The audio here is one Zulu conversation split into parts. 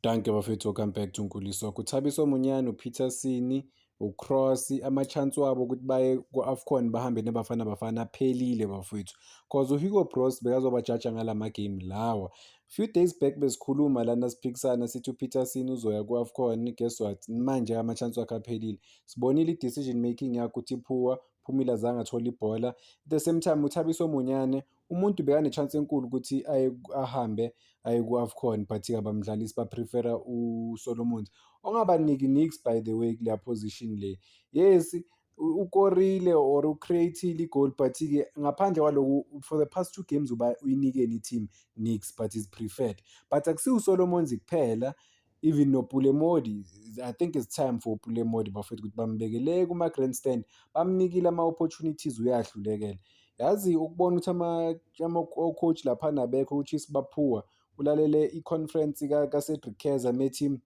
Dankie bafethu welcome back to Nkuliso. Kuthabisa omunyane uPeterson, uCross, ama-chance wabo ukuthi baye ku-Afcon bahambe neBafana Bafana aphelile bafethu. Cause uHugo Broos bekazobajaja ngala ma-game lawa. Few days back besikhuluma lana siphikisana sithi uPeterson uzoya ku-Afcon guess what? Manje ama-chance wakhe aphelile. Sibonile i-decision making yakhe ukuthi iphuwa, Phumile azange athole ibhola. At the same time uThabiso Munyane umuntu bekanechance enkulu ukuthi aye ahambe aye ku-afcon but kabamdlalisi baprefera usolomons ongabaniki nix by the way kuleya position le yes ukorile or ucreatile igol but-ke ngaphandle kwaloku for the past two games uba uyinikeni i-team nix but is preferred but akusiwusolomons kuphela even noPule Modi I think it's time for uPule Modi bafethu ukuthi bambekele kuma-grandstand bamnikile ama-opportunities uyahlulekela yazi ukubona ukuthi ama-coach laphana abekho ukuthi isibaphuwa ulalele i-conference kaCedric Keza methi um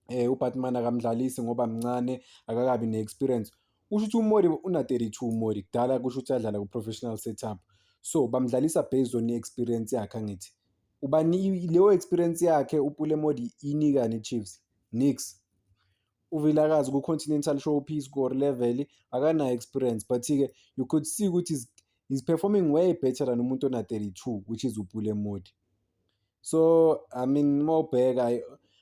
eh, uBatman akamdlalisi ngoba mncane akakabi ne-experience kusho ukuthi uModi una-32 uModi kudala kusho ukuthi adlala ku-professional setup so bamdlalisa based on i-experience yakhe angithi ubani leyo experience yakhe upule modi inika nechiefs nix uvilakazi ku-continental showpiece ku-or level akanayo experience but-ke you could see ukuthi is, is performing way better than umuntu ona-32 which is upule modi so i mean uma ubheka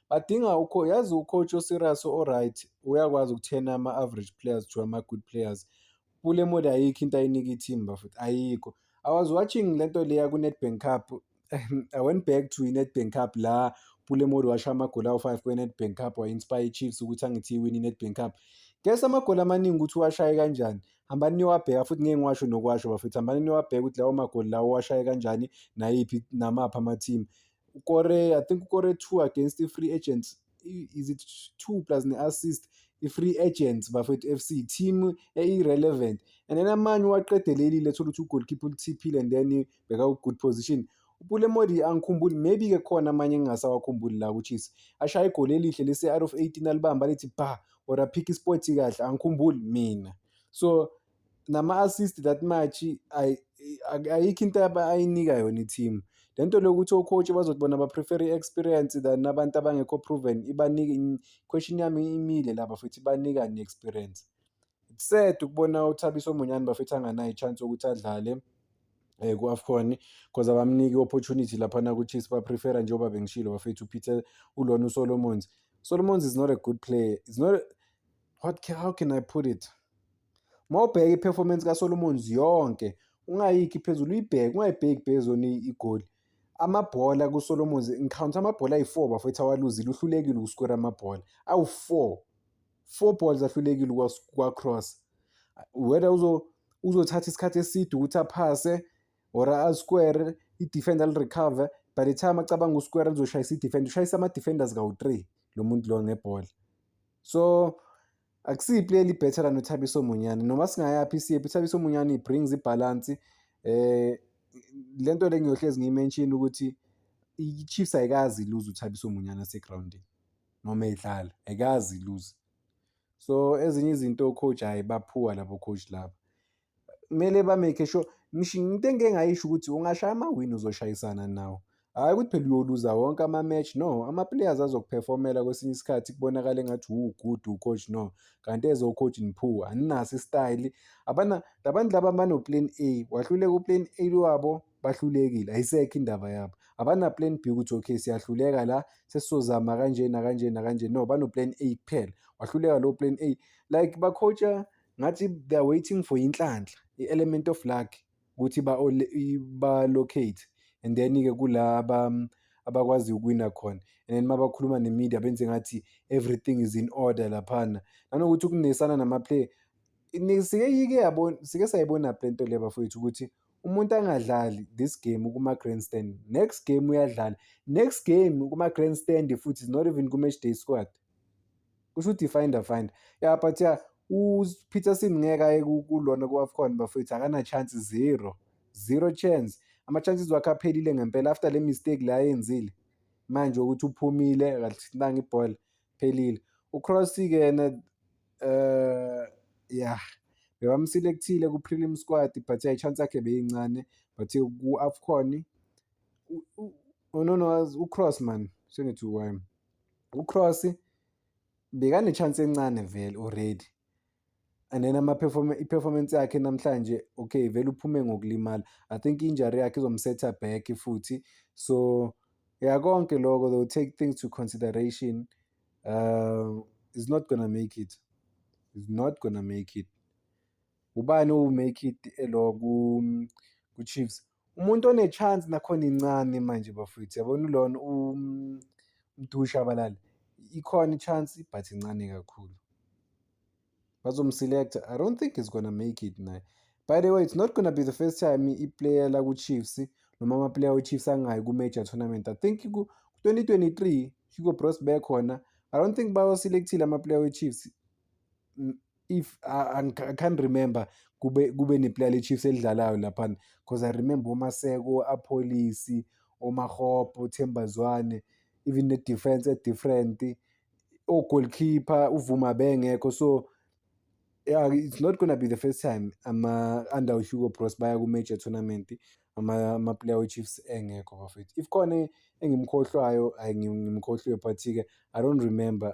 badinga ukho yazi ucoach oserious oright uyakwazi ukuthena ama-average players to ama-good players Pule mode ayikho into ayinika ithimba futhi ayikho. I was watching le nto leya ku-Nedbank Cup. I went back to i-Nedbank Cup la Pule mode washo amagoli awu-5 kwe-Nedbank Cup wa-inspire i-Chiefs ukuthi angithi iwini i-Nedbank Cup. Guess amagoli amaningi ukuthi uwashaye kanjani. Hambani niyowabheka futhi ngeke ngiwasho nokuwasho bafethu. Hambani niyowabheka ukuthi lawo magoli lawo uwashaye kanjani nayiphi namaphi ama-team. Ukore I think ukore two against i-Free Agents is it two plus ne-assist i-free agents bafethu f c team eyi-relevant and then amanye uwaqedelelile thola ukuthi ugolkipa ulithiphile and then bheka u-good position upule modi angikhumbuli maybe-ke khona amanye engingasawakhumbuli la kuchisi ashaya igoli elihle lesi-out of eighteen alibamba lithi ba or aphikhe ispoti kahle angikhumbuli mina so nama-assist that much ay- ay- ayikho into aba- ayinika yona i-team le nto lokuthi o-coach bazothi bona ba-prefer i-experience than abantu abangekho proven ibanika in- question yami imile laba futhi ibanika ne-experience It's sad ukubona uthabiso monyane bafethu anganayo i-chance yokuthi adlale eh ku-afcon because abamniki i-opportunity laphana ku-chiefs baprefera njengoba bengishilo bafethu upeter ulona usolomons solomons is not a good player is not what can, how can I put it uma ubheka i-performance kaSolomons yonke ungayikhi phezulu uyibheke ungayibheki phezulu igoli amabhola kuSolomons ngikhawnta amabhola ayi-four bafethu awaluzile uhlulekile ukuskora amabhola awu-four four balls ahlulekile kwacross whether uzothatha isikhathi eside ukuthi aphase or asquare i-defender alirecover by the time acabanga usquare lizoshayisa i-defender ushayisa ama-defenders kawu-three lo muntu lo ngebhola so akusiyi play elibetter lana uthabiso munyane noma singayaphi siyephi uthabiso munyane i-brings ibhalansi eh le nto le ngiyohlezi ngiyimenshini ukuthi i-chiefs ayikazi iluze uthabiso munyana segrawundini noma edlala ayikazi iluze so ezinye izinto coach hhayi baphuwa labo coach laba kumele ba-make sure ngisho into engike ngayisho ukuthi ungashaya amawini uzoshayisana nawo hhayi ukuthi phela uyoluza wonke ama-match no ama-players azokuphefomela kwesinye isikhathi kubonakale engathi wuwugudu ucoach no kanti eze ucoach niphu aninaso isitayili abana labantu laba banoplan a wahluleka uplan a lwabo bahlulekile ayisekho indaba yabo abanaplan b ukuthi okay siyahluleka la sesizozama kanje nakanje nakanje no banoplan a kuphela wahluleka lowo plan a like bacoacha ngathi they are waiting for inhlanhla i-element of luck ukuthi ba-locate and then-ke kula abakwazi ukuwina khona and then mabakhuluma ne-media benze ngathi everything is in order laphana nanokuthi ukunesana namaplayer sike yike yabona sike sayibona le nto le bafowethu ukuthi umuntu angadlali this game kuma-grandstand next game uyadlala next game kuma-grandstand futhi is not even ku-match day squad kusho ukuthi finder finder ya yeah, but ya yeah, upeterson ngeke aye kulona ku-afcon bafethu akana-chance zero zero chance ama-chances wakhe aphelile ngempela after le mistake la ayenzile manje ukuthi uphumile kalithintanga ibhola phelile ucrossy-ke yena um eh, ya bebamselekthile ku-prelim squad but ya i-chance yakhe beyincane but ku-afcon unonowazi ucross man sengithi why uCross bekanechance encane vele already and then ama i-performance yakhe namhlanje okay vele uphume ngokulimala i think injury yakhe izomsetha back futhi so ya konke lokho they will take things to consideration um is not gonna make it is not gonna make it ubani owumake it elo ku-chiefs Umuntu onechance nakhona incane manje bafowethu yabona ulona umdusha abalali ikhona ichance but incane kakhulu bazomselecta i don't think he's gonna make it naye by the way it's not gonna be the first time iplayer laku-chiefs noma amaplayer we-chiefs angayi ku-major tournament i think ku-2023 hugo bros bekhona i don't think bawaselekthile amaplayer we-chiefs if I, I can't remember kube kube neplayer leChiefs elidlalayo laphana because I remember oMaseko, aPholisi, oMahopo, Themba Zwane even the defense e different ogoalkeeper uvuma bengekho so yeah it's not gonna be the first time ama under Hugo Broos baya ku major tournament ama ama player we Chiefs engekho bafethu if khona engimkhohlwayo ayingimkhohliwe but ke I don't remember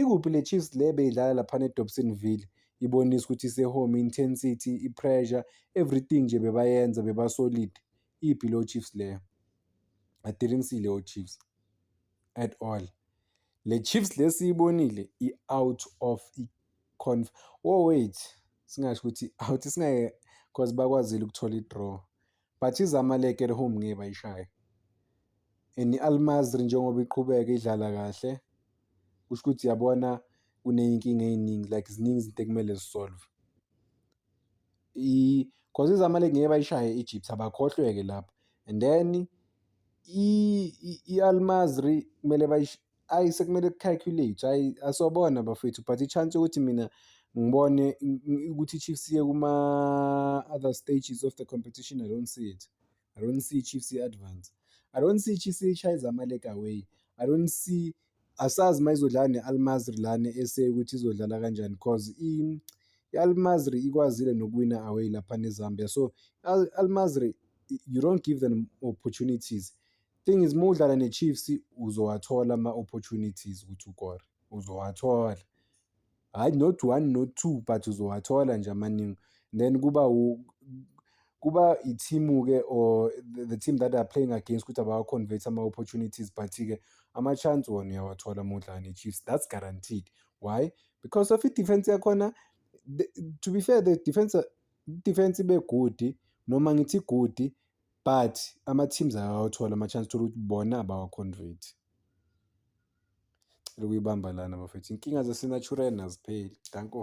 ikuphi le Chiefs le beyidlala laphana eDobsonville ibonisa ukuthi ise-home intensity i-pressure everything nje bebayenza bebasolid iphi lo Chiefs leyo I didn't see leyo Chiefs at all le Chiefs lesiyibonile i-out of i-conf oh wait singasho ukuthi out singeke cause bakwazile ukuthola i-draw but izamalek at home ngeke bayishaye and i-almazri njengoba iqhubeka idlala kahle kusho ukuthi yabona kuney'nkinga ey'ningi like ziningi izinto ekumele zisolve cause izamalek ngeke bayishaye i-egypt abakhohlweke lapho and then i-almazri kumele ayi sekumele kucalculate ayi asobona bafethu but i-chance yokuthi mina ngibone ukuthi i-chiefs iye kuma-other stages of the competition i don't see it i don't see i-chiefs i-advance i don't see i-chiefs ishaye zamalek away i don't see asazi uma izodlala ne-almazri lana ese ukuthi izodlala kanjani because i-almazri ikwazile nokuwina away lapha nezambia so i-almazri you don't give them opportunities Thing is uma udlala neChiefs uzowathola ama-opportunities ukuthi ukore, uzowathola. Hhayi not one not two but uzowathola nje amaningi. Then kuba kuba ithimu-ke or the team that are playing against ukuthi abawa-convert ama-opportunities but-ke ama-chance wona uyawathola uma udlala ne-Chiefs. That's guaranteed. Why? Because of i-defense yakhona to be fair the defense defense ibe good noma ngithi good but ama-teams akawathola ama-chance thola ukuthi bona abawa-convert cela ukuyibamba lana bafethu inkinga zasenatural azipheli danko